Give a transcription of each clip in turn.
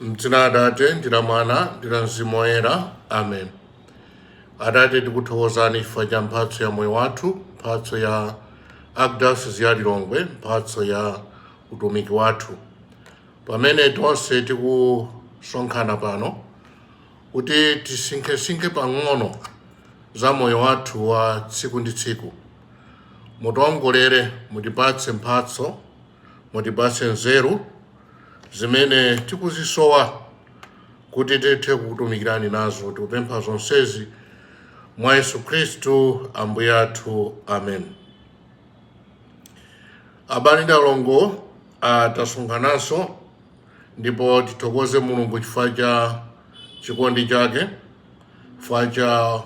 M'dzina la Atate ndi la Mwana ndi la Mzimu Woyera, amen. Atate, tikuthokozani chifukwa cha mphatso ya moyo wathu, mphatso ya Archdiocese ya Lilongwe, mphatso ya utumiki wathu, pamene tonse tikusonkhana pano kuti tisinkhesinkhe pang'ono za moyo wathu wa tsiku ndi tsiku. Mutiongolere, mutipatse mphatso, mutipatse nzeru, zimene tikuzisowa kuti tithe kukutumikirani nazo tikupempha zonsezi mwa yesu khristu ambuye athu amen abale ndi alongo ah, tasonkhananso ndipo tithokoze mulungu chifukwa cha chikondi chake chifukwa cha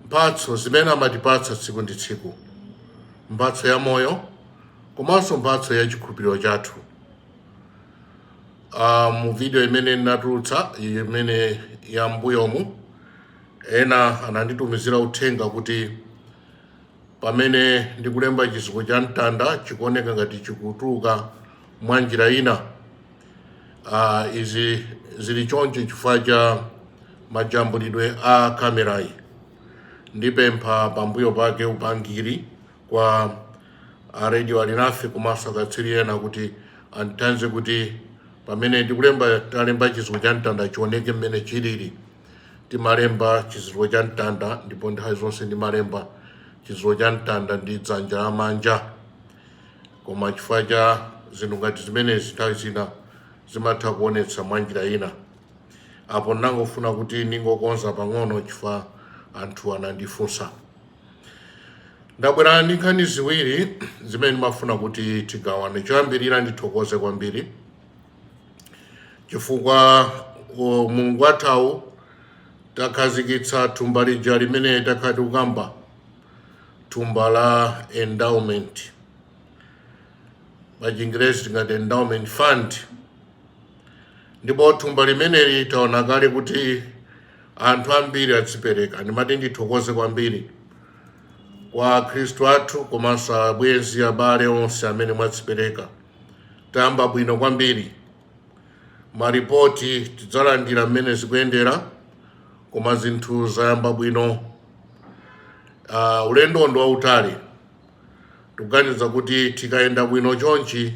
mphatso zimene amatipatsa tsiku ndi tsiku mphatso ya moyo komanso mphatso ya chikhulupiriro chathu uh, mu video imene ndinatulutsa imene ya mbuyomu ena ananditumizira uthenga kuti pamene ndikulemba chizindikiro cha mtanda chikuoneka ngati chikutuluka mwa njira ina uh, izi zili choncho chifukwa cha majambulidwe a kamerayi ndipempha pambuyo pake upangiri kwa a radio alinafe komanso akatswiri ena kuti andithandize kuti pamene ndikulemba talemba chizindikiro cha mtanda chioneke mmene chilili timalemba chizindikiro cha mtanda ndipo nthawi zonse ndimalemba chizindikiro cha mtanda ndi dzanja lamanja koma chifukwa cha zinthu ngati zimenezi nthawi zina zimatha kuonetsa mwa njira ina apo ndangofuna kuti ndingokonza pang'ono chifukwa anthu anandifunsa ndabwera ndi nkhani ziwiri zimene ndimafuna kuti tigawane choyambirira ndithokoze kwambiri chifukwa mulungu wathawu takhazikitsa thumba lija limene takhala tikukamba thumba la endowment pa chingerezi tingati endowment fund ndipo thumba limeneli taona kale kuti anthu ambiri adzipereka. Ndimati ndithokoze kwambiri kwa akhristu athu komanso abwenzi abale onse amene mwadzipereka. Tayamba bwino kwambiri. Maripoti tidzalandira mmene zikuyendera koma zinthu zayamba bwino. Uh, ulendo ndi wautali tikuganiza kuti tikayenda bwino chonchi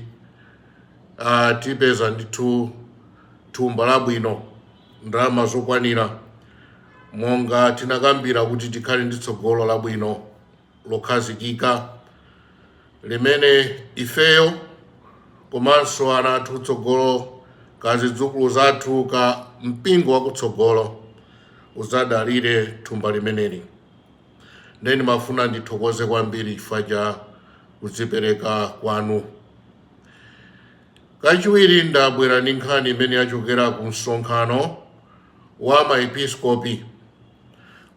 uh, tipeza ndithu thumba labwino ndalama zokwanira monga tinakambira kuti tikhale ndi tsogolo labwino lokhazikika limene ifeyo komanso ana athu tsogolo ka zidzukulu zathu ka mpingo wakutsogolo udzadalire thumba limeneli ndiye ndimafuna ndithokoze kwambiri chifukwa cha kudzipereka kwanu Kachiwiri ndabwera ndi nkhani imene yachokera ku msonkhano wa ma episkopi.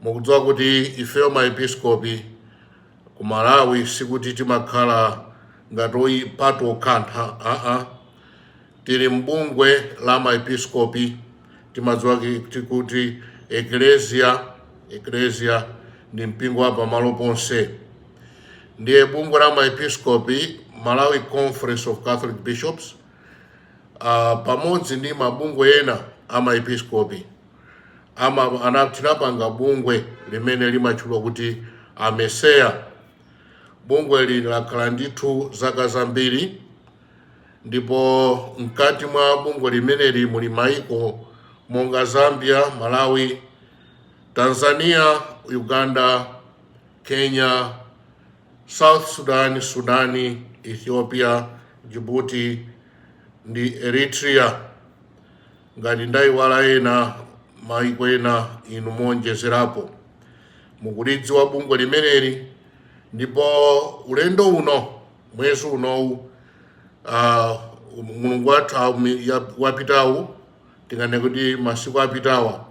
Mukudziwa kuti ifeyo ma episkopi ku Malawi sikuti timakhala ngati oyi patokhatokha aa tili m'bungwe la ma episkopi timadziwa kuti kuti eklesia eklesia ndi mpingo wa pamalo ponse ndiye bungwe la maepiskopi malawi conference of catholic bishops uh, pamodzi ndi mabungwe ena a maepiskopi ama ana- tinapanga bungwe limene limatchulwa kuti AMECEA bungweli lakhala ndithu zaka zambiri ndipo mkati mwa bungwe limeneli muli maiko monga zambia malawi Tanzania, Uganda, Kenya, South Sudan, Sudani, Ethiopia, Djibouti ndi Eritrea. Ngati ndayiwala ena mayiko ena inu muonjezerapo mukulidziwa bungwe limeneli ndipo ulendo uno mwezi unowu uh, mulungu watha wapitawu tinganene kuti masiku apitawa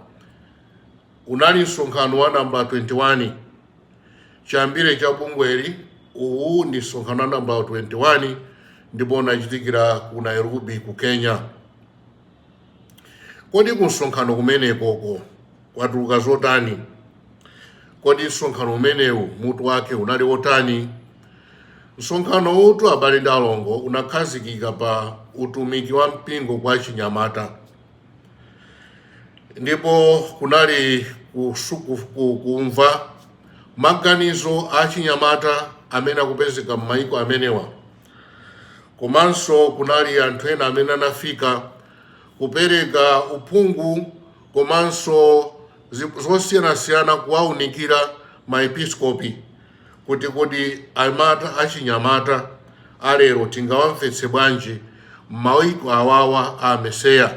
Unali msonkhano wa namba 21 chiyambire cha bungweli. Uwu ndi msonkhano wa namba 21 ndipo unachitikira ku Nairobi ku Kenya. Kodi ku msonkhano kumenekoko kwatuluka zotani? Kodi msonkhano umenewu mutu wake unali wotani? Msonkhanowutu abale ndi alongo unakhazikika pa utumiki wa mpingo kwa achinyamata. ndipo kunali kusu- ku- ku- kumva maganizo a achinyamata amene akupezeka m'mayiko amenewa komanso kunali anthu ena amene anafika kupereka uphungu komanso zi- zosiyanasiyana kuwaunikira maepiskopi kuti kodi amata achinyamata a lero tingawamvetse bwanji m'maiko awawa a AMECEA.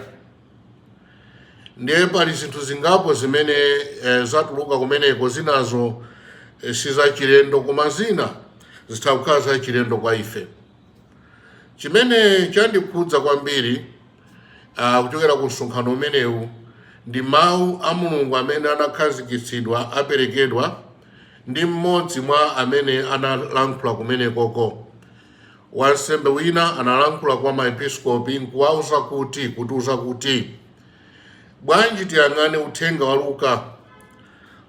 Ndiye pali zinthu zingapo zimene eh, zatuluka kumeneko, zinazo eh, si zachilendo koma zina zitha kukhala zachilendo kwa ife. Chimene chandikhudza kwambiri ah, kuchokera ku msonkhano umenewu ndi mawu a Mulungu amene anakhazikitsidwa aperekedwa ndi mmodzi mwa amene analankhula kumenekoko. Wansembe wina analankhula kwa maepiskopi nkuwauza kuti kutiuza kuti bwanji tiyang'ane uthenga wa Luka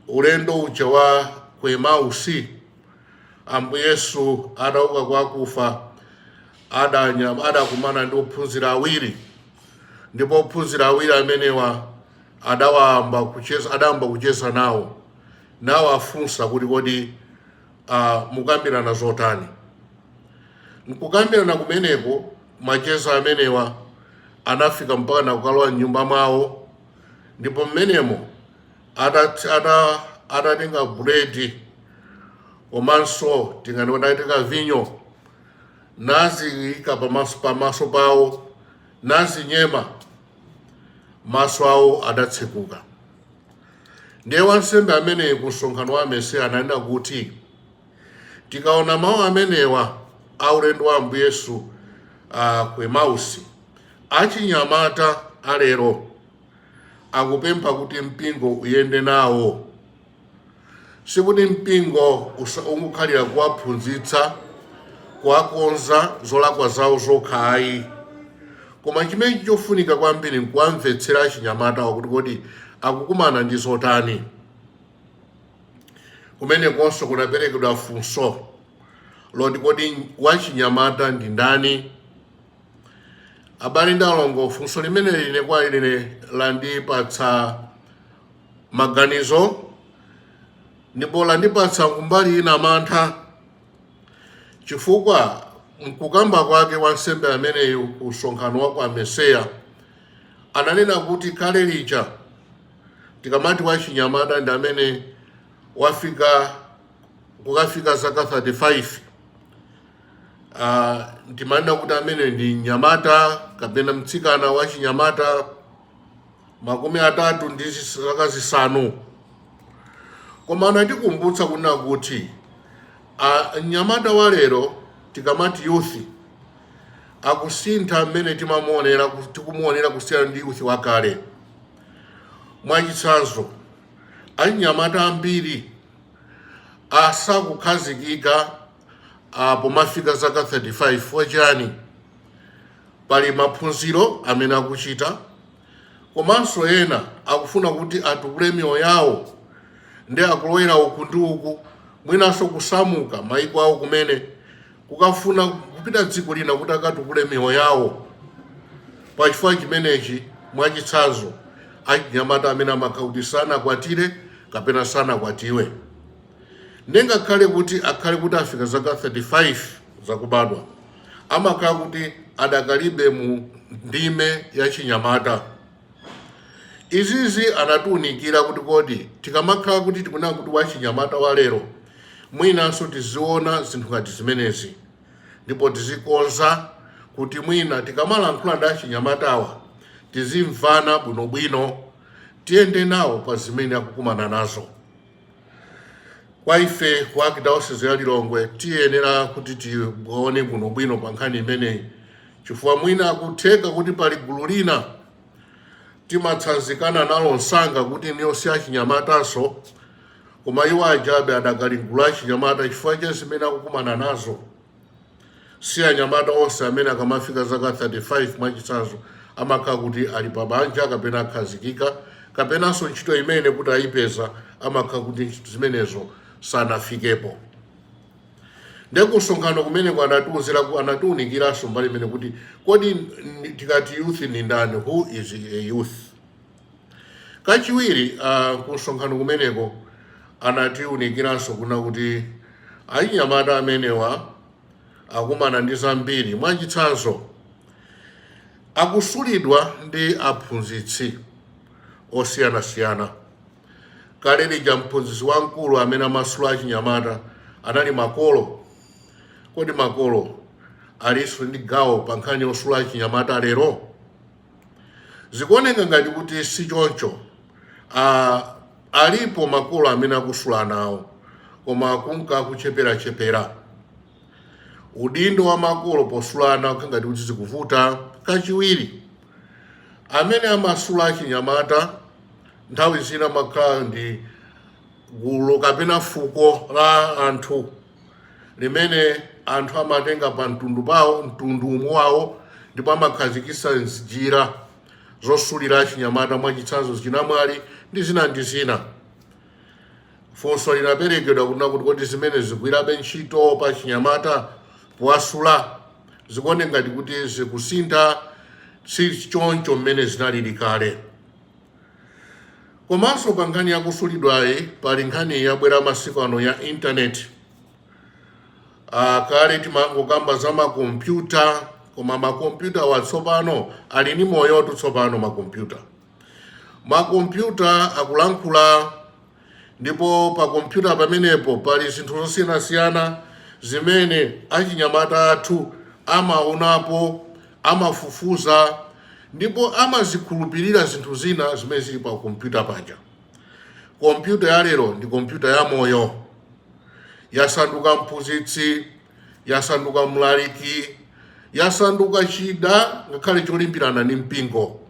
ulendo uja wa ku Emausi Ambuye Yesu adauka kwa akufa adakumana ndi ophunzira awiri ndipo ophunzira awiri amenewa adawa- adayamba kucheza nawo nawafunsa kuti kodi uh, mukambirana zotani mkukambirana kumeneko macheza amenewa anafika mpaka nakukalowa mnyumba mwawo ndipo mmenemo atatenga buledi komanso tinganene atatenga vinyo naziyika pamaso pawo nazinyema maso awo adatsekuka ndiye wansembe ameneyi ku msonkhano wa AMECEA ananena kuti tikaona mawu amenewa a ulendo wa ambuye yesu uh, ku emausi achinyamata alero akupempha kuti mpingo uyende nawo Sikuti mpingo usa- ungokhalira kuwaphunzitsa kuwakonza zolakwa zawo zokha ayi koma chimene chofunika kwambiri nkuwamvetsera achinyamatawo kuti kodi akukumana ndi zotani kumenekonso kunaperekedwa funso loti kodi wachinyamata ndi ndani abale ndi alongo funso limeneli ine kwa ine landipatsa maganizo ndipo landipatsa kumbali ina mantha chifukwa mkukamba kwake wansembe ameneyu ku msonkhano wa ku AMECEA ananena kuti kale lija tikamati wachinyamata ndi amene wafika kukafika zaka 35 uh, timanena kuti amene ndi mnyamata kapena mtsikana wachinyamata makumi atatu ndi zis- zaka zisanu koma anatikumbutsa kunena kuti a- mnyamata wa lero tikamati youth akusintha mmene timamuonera ku- tikumuonera kusiyana ndi youth wakale mwachitsanzo anyamata ambiri asakukhazikika ah, pomafika zaka 35 mwachani pali maphunziro amene akuchita komanso ena akufuna kuti atukule miyoyo yawo ndi akulowera uku ndi uku mwinanso kusamuka maiko awo kumene kukafuna kupita dziko lina kuti akatukule miyoyo yawo pachifukwa chimenechi mwachitsanzo achinyamata amene amakhala kuti sanakwatire kapena sanakwatiwe ndingakhale kuti akhale kuti afika zaka 35 zakubadwa amakhala kuti adakalibe mu ndime ya chinyamata izizi anatiunikira kuti kodi tikamakhala kuti tikunena kuti wachinyamata wa lero mwinanso tiziona zinthu ngati zimenezi ndipo tizikonza kuti mwina tikamalankhula ndi achinyamatawa tizimvana bwinobwino tiyende nawo pa zimene akukumana nazo Kwa ife ku Archdiocese ya Lilongwe tiyenera kuti tione bwinobwino pa nkhani imeneyi, chifukwa mwina akutheka kuti pali gulu lina timatsanzikana nalo msanga kuti iwo si achinyamatanso, koma iwo ajabe adakali m'gulu la achinyamata chifukwa cha zimene akukumana nazo. si anyamata onse amene akamafika zaka 35 mwachitsanzo amakhala kuti ali pa banja kapena akhazikika kapenanso ntchito imene kuti ayipeza amakhala kuti zimenezo sanafikepo nde kumsonkhano kumeneko anatiuzira anatiunikiranso mbali imene kuti kodi tikati youth ndi ndani who is a youth Kachiwiri uh, kumsonkhano kumeneko anatiunikiranso kunena kuti achinyamata amenewa akumana ndi zambiri mwachitsanzo akusulidwa ndi aphunzitsi osiyanasiyana kale lija mphunzitsi wamkulu amene amasula achinyamata anali makolo kodi makolo alinso ndi gawo pa nkhani yosula achinyamata lero zikuoneka ngati kuti si choncho uh, alipo makolo amene akusula nawo koma akunka akucheperachepera udindo wa makolo posula ana ukukhala ngati kuti zikuvuta kachiwiri amene amasula achinyamata nthawi zina amakhala ndi gulu kapena fuko la anthu limene anthu amatenga pa mtundu pawo mtundu womwe wawo ndipo amakhazikitsa njira zosulira achinyamata mwachitsanzo chinamwali ndi zina ndi zina funso linaperekedwa kunena kuti kodi zimene zigwirabe ntchito pa achinyamata powasula zikuoneka ngati kuti zikusintha si choncho mmene zinalili kale Komanso pa nkhani yakusulidwayi pali nkhani yabwera masiku ano ya intaneti. Kale timangokamba za makompyuta koma makompyutawa tsopano ali ni moyotu tsopano makompyuta. Makompyuta akulankhula ndipo pa kompyuta pamenepo pali zinthu zosiyanasiyana zimene achinyamata athu amaonapo amafufuza ndipo amazikhulupirira zinthu zina zimene zili pa kompyuta paja kompyuta ya lero ndi kompyuta ya moyo yasanduka mphunzitsi yasanduka mlaliki yasanduka chida ngakhale cholimbirana ndi mpingo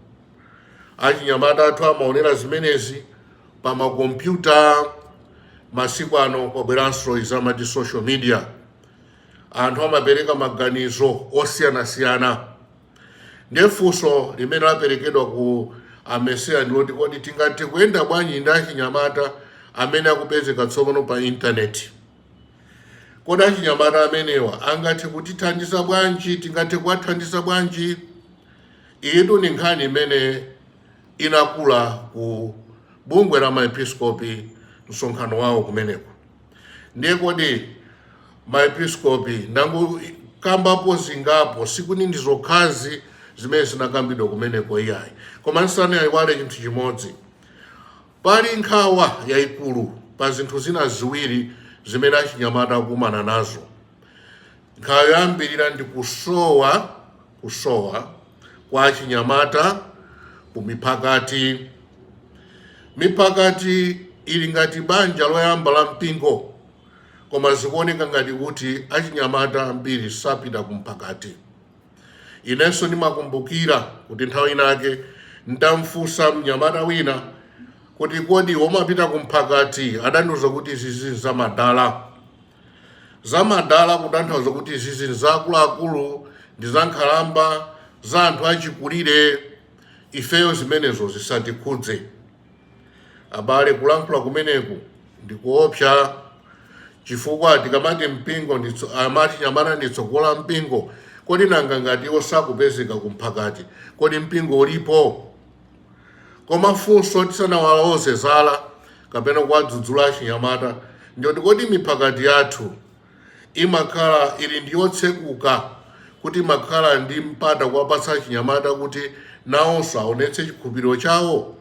achinyamata athu amaonera zimenezi pa makompyuta masiku ano kwabweranso izi amati social media anthu amapereka maganizo osiyanasiyana ndiye funso limene laperekedwa ku amesiya ndi loti kodi tingathe kuyenda bwanji ndi achinyamata amene akupezeka tsopano pa intaneti kodi achinyamata amenewa angathe kutithandiza bwanji tingathe kuwathandiza bwanji Iyitu ndi nkhani imene inakula ku bungwe la maepiskopi msonkhano wawo kumeneko. Ndiye kodi maepiskopi ndangokambapo zingapo, sikuti ndi zokhazi zimene zinakambidwa kumeneko iyayi, koma ndisanayiwale chinthu chimodzi, pali nkhawa yayikulu pa zinthu zina ziwiri zimene achinyamata akukumana nazo. Nkhawa yoyambirira ndi kusowa kusowa kwa achinyamata ku miphakati. Miphakati ili ngati banja loyamba la mpingo, koma zikuoneka ngati kuti achinyamata ambiri sapita ku mphakati. Inenso ndimakumbukira kuti nthawi inake ndidamfunsa mnyamata wina kuti kodi umapita ku mphakati? Adandiuza kuti izi ndi zamadala. zamadala kutanthauza kuti izizi ndi za akuluakulu ndi za nkhalamba za anthu achikulire ifeyo zimenezo zisatikhudze abale kulankhula kumeneku ndikuopsa chifukwa tikamati mpingo nditso- amati achinyamata ndi tsogolo la mpingo kodi nanga ngati iwo sakupezeka kumphakati kodi mpingo ulipo koma funso tisanawaloze zala kapena kuwadzudzula achinyamata ndiyoti kodi miphakati yathu imakhala ili ndi yotsekuka kuti imakhala ndi mpata kuwapatsa achinyamata kuti nawonso aonetse chikhulupiriro chawo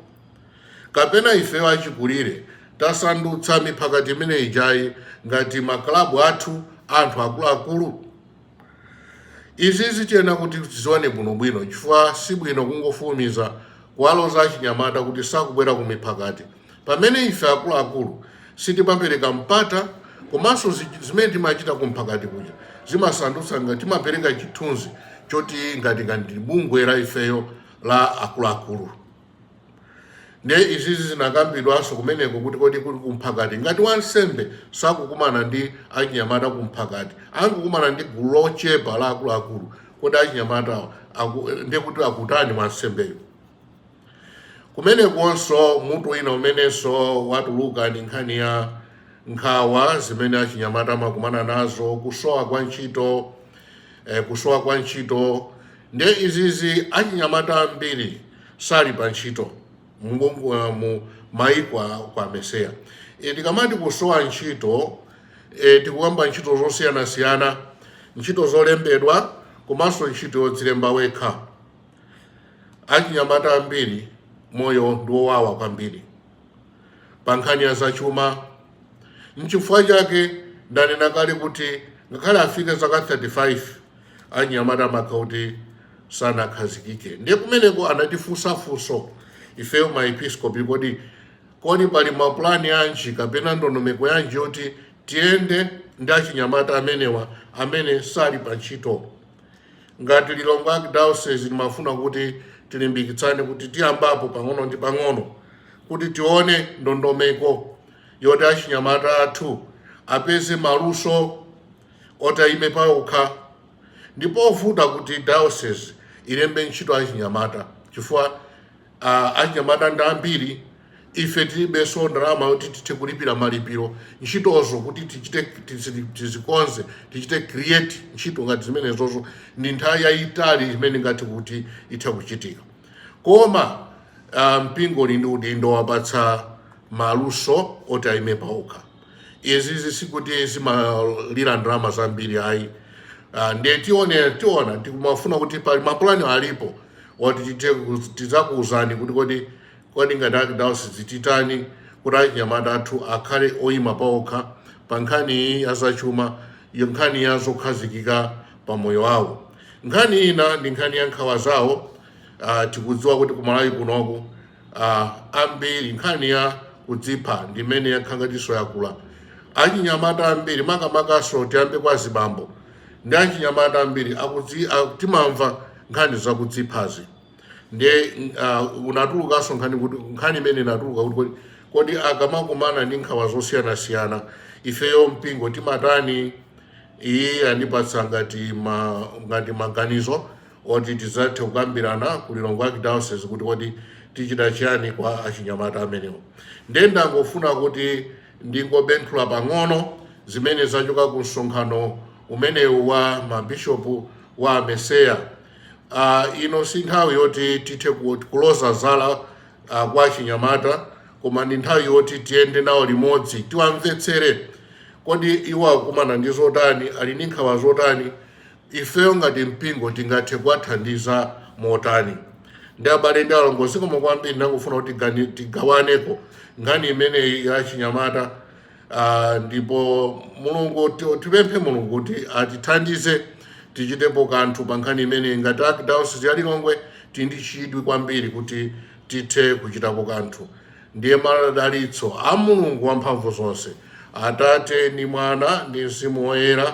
kapena ifeyo achikulire tasandutsa miphakati imene ijayi ngati maklabu athu anthu akuluakulu Izizi tiyenera kuti tizione bwinobwino chifukwa si bwino kungofulumiza kuwaloza achinyamata kuti sakubwera ku miphakati pamene ife akuluakulu sitimapereka mpata komanso zi- zimene timachita ku mphakati kuja zimasandutsa ngati timapereka chithunzi choti ngati ngati bungwe la ifeyo la akuluakulu ndiye izizi zinakambidwanso kumeneko kuti kodi kuli kumphakati ngati wansembe sakukumana ndi achinyamata kumphakati akungokumana ndi gulu lochepa la akuluakulu kodi achinyamata ndiye kuti akutani wansembeyo kumenekonso mutu wina umenenso watuluka ndi nkhani ya nkhawa zimene achinyamata amakumana nazo kusowa kwa ntchito eh, kusowa kwa ntchito ndiye izizi achinyamata ambiri sali pa ntchito mu maiko a ku AMECEA e, tikamati kusowa ntchito e, tikukamba ntchito zosiyanasiyana ntchito zolembedwa komanso ntchito yodzilemba wekha achinyamata ambiri moyo ndi wowawa kwambiri pa nkhani ya zachuma nchifukwa chake ndanena kale kuti ngakhale afike zaka 35 achinyamata amakhala kuti sanakhazikike ndiye kumeneko anatifunsa funso ifeyo maepiskopi kodi kodi pali mapulani yanji kapena ndondomeko yanji yoti tiyende ndi achinyamata amenewa amene sali pa ntchito ngati lilongwe archdiocese timafuna kuti tilimbikitsane kuti tiyambapo pang'ono ndi pang'ono kuti tione ndondomeko yoti achinyamata athu apeze maluso oti ayime paokha ndi povuta kuti diocese ilembe ntchito achinyamata chifukwa uh, achinyamata ndi ambiri ife tilibenso ndalama yoti tithe kulipira malipiro ntchitozo kuti tichite tizi- tizikonze tichite create ntchito ngati zimenezozo ndi nthawi yayitali imene ngati kuti itha kuchitika koma ah, mpingo uli ndi udindo wowapatsa maluso oti ayime paokha izizi sikuti zimalira ndalama zambiri ayi Ah, ndiye tione tiona tikumafuna kuti pali mapulani alipo oti tithe ku- tidzakuwuzani kuti kodi kodi ngati Archdiocese titani kuti achinyamata athu akhale oyima paokha pa nkhani iyi ya zachuma iyo nkhani ya zokhazikika pa moyo wawo nkhani ina ndi nkhani ya nkhawa zawo Ah, tikudziwa kuti kumalawi kunoku uh, ambiri nkhani ya kudzipha ndi imene yakhala ngatinso yakula achinyamata ambiri makamakanso tiyambe kwa azibambo ndi achinyamata ambiri akudzi- a- timamva nkhani zakudziphazi ndiye uh, unatulukanso nkhani kuti nkhani imene inatuluka kuti kodi- kodi akamakumana ndi nkhawa zosiyanasiyana ifeyo mpingo timatani ndiye anatipatsa ngati ma, ngati maganizo oti tidzathe kukambirana ku Lilongwe Archdiocese kuti kodi tichita chiyani kwa achinyamata amenewo. Ndiye ndangofuna kuti ndingobenthula pang'ono zimene zachoka ku msonkhano umenewu wa mabishopu wa AMECEA. Ah, ino si nthawi yoti tithe ku- kuloza zala ah, kwa achinyamata koma ndi nthawi yoti tiyende nawo limodzi tiwamvetsere kodi iwo akukumana ndi zotani ali ndi nkhawa zotani Ifeyo ngati mpingo tingathe kuwathandiza motani? Ndiye abale ndi alongo, zikomo kwambiri. Ndangofuna kuti tigani- tigawaneko nkhani imeneyi ya achinyamata Ah, ndipo mulungu ti- tipemphe mulungu kuti atithandize tichitepo kanthu pa nkhani imeneyi ngati archdiocese ya lilongwe tili ndi chidwi kwambiri kuti tithe kuchitapo kanthu ndiye madalitso a mulungu wamphamvu zonse atate ndi mwana ndi mzimu woyera